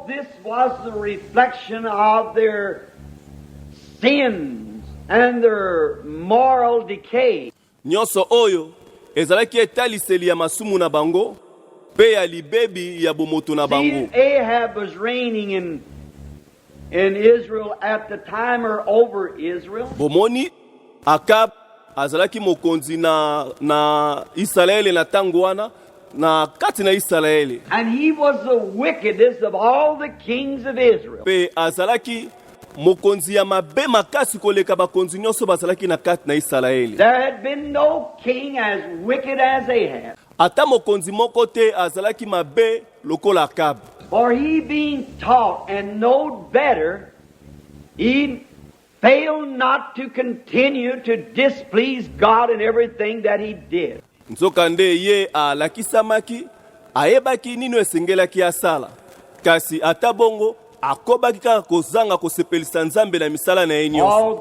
This was the reflection of their sins and their moral decay. Nyonso oyo ezalaki etaliseli ya masumu na bango mpe ya libebi ya bomoto na bango. Ahab was reigning in in Israel at the time or over Israel. Bomoni Akab azalaki mokonzi na, na Isalaele na ntango wana na kati na Isalaele. And he was the wickedest of all the kings of Israel. Mpe azalaki mokonzi ya mabe makasi koleka bakonzi nyonso bazalaki na kati na Isalaele. There had been no king as wicked as Ahab. Ata mokonzi moko te azalaki mabe lokola Akab. For he being taught and knowed better, he Fail not to continue to displease God in everything that he did. Nzokande ye alakisamaki, ayebaki nini esengelaki asala, kasi ata bongo akobaki kaka kozanga kosepelisa Nzambe na misala na ye nyonso.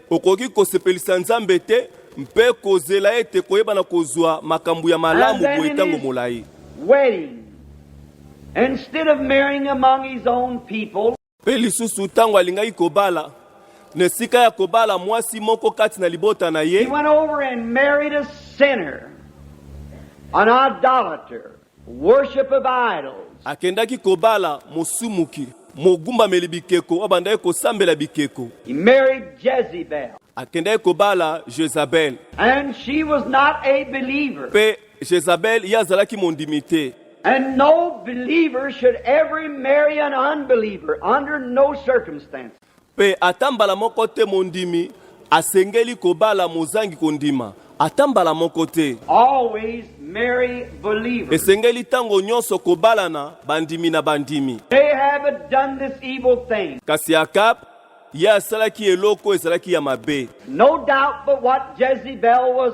Okoki kosepelisa Nzambe te mpe kozela ete koyebana kozwa makambo ya malamu boye ntango molai. Mpe lisusu, ntango alingaki kobala, na esika ya kobala mwasi moko kati na libota na ye, Worship of idols. Akendaki kobala mosumuki, mogumbameli bikeko, abandaki kosambela bikeko. He married Jezebel. Akendaki kobala Jezabel. And she was not a believer. Mpe Jezabel ye azalaki mondimi te. And no believer should ever marry an unbeliever under no circumstances. Mpe ata mbala moko te mondimi asengeli kobala mozangi kondima, ata mbala moko te. Always marry believers. Esengeli ntango nyonso kobalana bandimi na bandimi. Ahab had done this evil thing. Kasi Akab, ye asalaki eloko ezalaki ya mabe. No doubt but what Jezebel was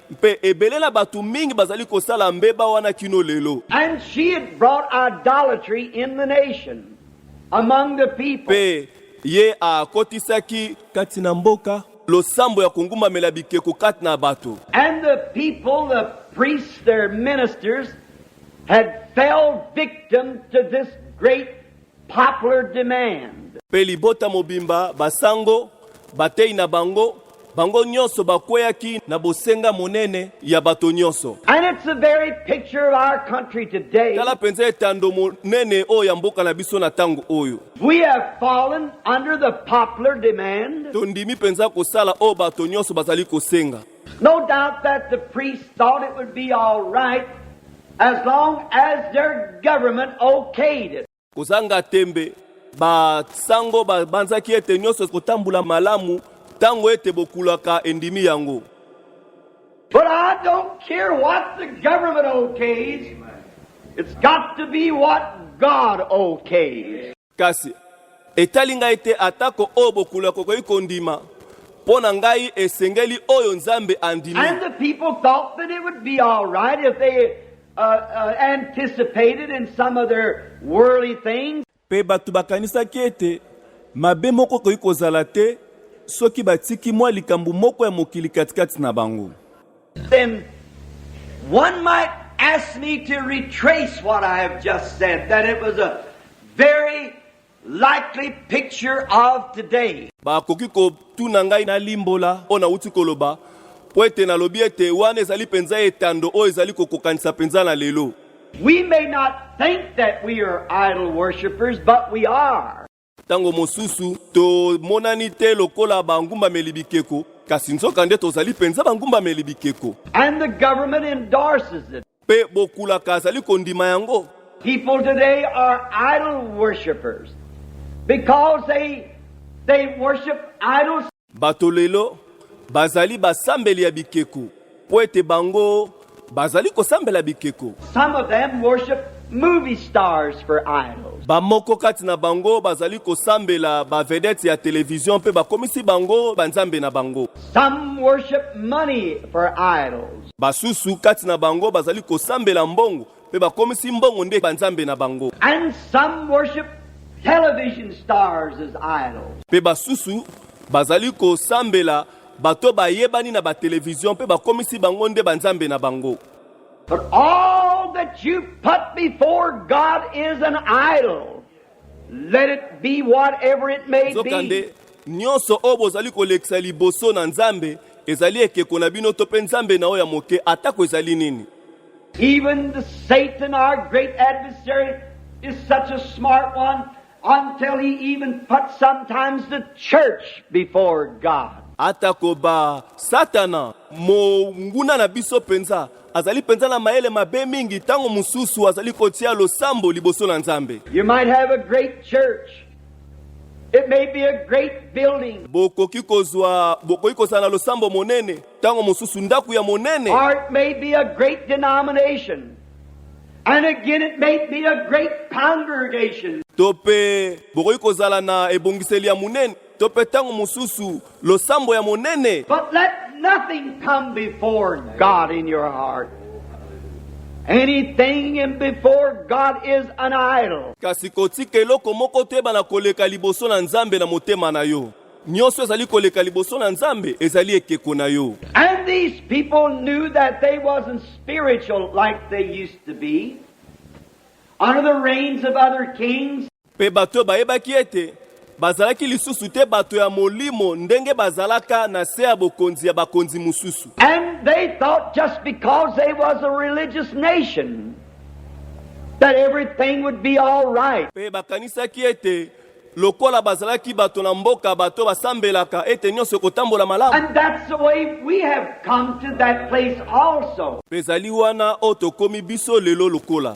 Mpe ebele na bato mingi bazali kosala mbeba wana kino lelo. Mpe ye akotisaki kati na mboka losambo ya kongumbamela bikeko kati na bato. And the people, the priests, their ministers had fell victim to this great popular demand. Mpe libota mobimba, basango, batei na bango, bango nyonso bakweyaki na bosenga monene ya bato nyonso. And it's the very picture of our country today. Tala mpenza etando monene oyo ya mboka na biso na ntango oyo. We have fallen under the popular demand. Tondimi mpenza kosala oyo bato nyonso bazali kosenga. No doubt that the priests thought it would be all right as long as their government okayed it. Kozanga tembe, basango babanzaki ete nyonso ekotambola malamu ntango ete bokulaka endimi yango. But I don't care what the government okays. It's got to be what God okays. Kasi etali ngai te atako oyo bokula kokoki kondima, mpo na ngai esengeli oyo Nzambe andimi. And the people thought that it would be all right if they uh, uh, anticipated in some of their worldly things. Mpe bato bakanisaki ete mabe moko ekoki kozala te soki batiki mwa likambo moko ya mokili katikati na bango. Then one might ask me to retrace what I have just said, that it was a very likely picture of today. Bakoki kotuna ngai nalimbola oyo nauti koloba mpo ete nalobi ete wana ezali mpenza etando oyo ezali kokokanisa mpenza na lelo. We may not think that we are idol worshippers, but we are. Ntango mosusu tomonani te lokola bangumbameli bikeko, kasi nzokande tozali mpenza bangumbameli bikeko. And the government endorses it. Mpe bokulaka azali kondima yango. People today are idol worshipers because they, they worship idols. Bato lelo bazali basambeli ya bikeko mpo ete bango bazali kosambela bikeko. Some of them worship movie stars for idols. Bamoko kati na bango bazali kosambela ba vedettes ya televizio mpe bakomisi bango banzambe na bango. Some worship money for idols. Basusu kati na bango bazali kosambela mbongo Mpe bakomisi mbongo nde banzambe na bango. And some worship television stars as idols. Mpe basusu bazali kosambela bato bayebani na batelevizio mpe bakomisi bango nde banzambe na bango. But all that you put before God is an idol. Nzokande, nyonso oyo bozali kolekisa liboso na Nzambe ezali ekeko na bino to mpe Nzambe na oyo ya moke, atako ezali nini. Even the Satan, our great adversary, is such a smart one until he even puts sometimes the church before God. Atakoba Satana, monguna na biso penza, Azali mpenza na mayele mabe mingi, ntango mosusu azali kotia losambo liboso na Nzambe. You might have a great church. It may be a great building. Bokoki kozwa, bokoki kozala na losambo monene, ntango mosusu ndako ya monene. Or it may be a great denomination. And again it may be a great congregation. To mpe bokoki kozala na ebongiseli ya monene, to mpe ntango mosusu losambo ya monene. But let nothing come before God in your heart. Anything in before God is an idol. Kasi kotika eloko moko te bana koleka liboso na Nzambe na motema na yo. Nyonso ezali koleka liboso na Nzambe ezali ekeko na yo. And these people knew that they wasn't spiritual like they used to be under the reigns of other kings. Mpe bato oyo bayebaki ete bazalaki lisusu te bato ya molimo ndenge bazalaka na se ya bokonzi ya bakonzi mosusu. And they thought just because they was a religious nation that everything would be all right. Mpe bakanisaki ete lokola bazalaki bato na mboka bato basambelaka ete nyonso ekotambola malamu mpe ezali wana oyo tokomi biso lelo lokola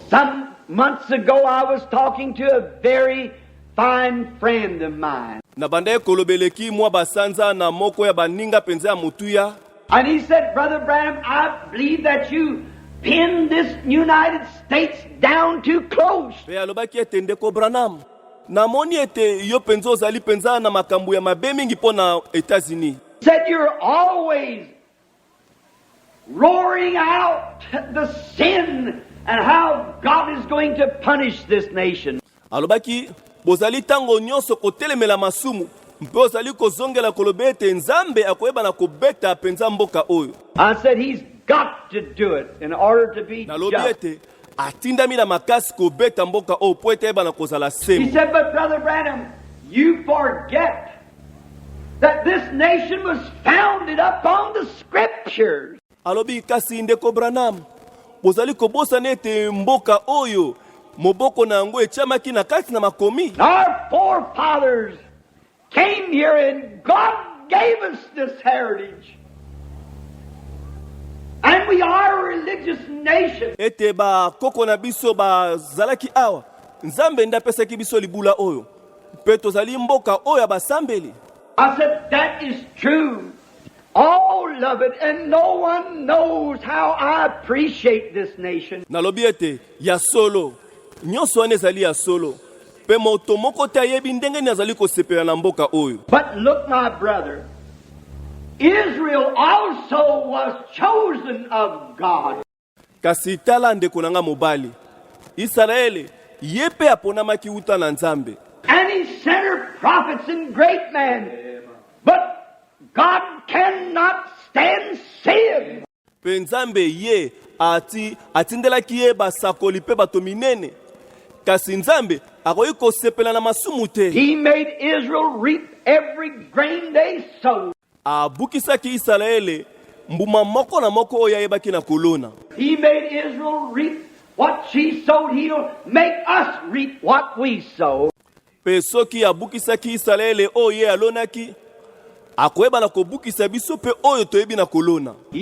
Months ago I was talking to a very fine friend of mine. Nabandaki koloba eleki mwa basanza na moko ya baninga mpenza ya motuya. And he said, Brother Branham, I believe that you pinned this United States down too close. Pe alobaki ete ndeko Branham, namoni ete yo penza ozali penza na makambo ya mabe mingi mpo na Etats-Unis. Said you're always Roaring out the sin and how God is going to punish this nation. Alobaki bozali tango nyonso kotelemela masumu mpe ozali kozongela koloba ete Nzambe akoyeba na kobeta mpenza mboka oyo. I said he's got to do it in order to be Nalobi ete atindami na makasi kobeta mboka oyo oh, mpo ete ayebana kozala sembo. That this nation was founded upon the scriptures. Alobi kasi ndeko Branham, bozali kobosana ete mboka oyo moboko na yango etyamaki na kati na makomi. Our forefathers came here and God gave us this heritage. And we are a religious nation. Ete ba koko na biso ba zalaki awa. Nzambe nda pesaki biso libula oyo. Pe tozali mboka oyo ba sambeli. I said that is true. All love it and no one knows how I appreciate this nation. Nalobi ete ya solo. Nyonso wana ezali ya solo. Mpe moto moko te ayebi ndenge nini azali kosepela na mboka oyo. But look, my brother, Israel also was chosen of God. Kasi tala ndeko na nga mobali, Isalaele ye mpe aponamaki uta na Nzambe. And he sent her prophets and great men, but God cannot stand sin. Mpe Nzambe ye ati, atindelaki ye basakoli mpe bato minene. Kasi Nzambe akoki kosepela na masumu te. He made Israel reap every grain they sowed. Abukisaki Isalaele mbuma moko na moko oyo ayebaki na kolona. He made Israel reap what she sowed. He'll make us reap what we sow. Mpe soki abukisaki Isalaele oyo ye alonaki, akoyeba na kobukisa biso mpe oyo toyebi na kolona.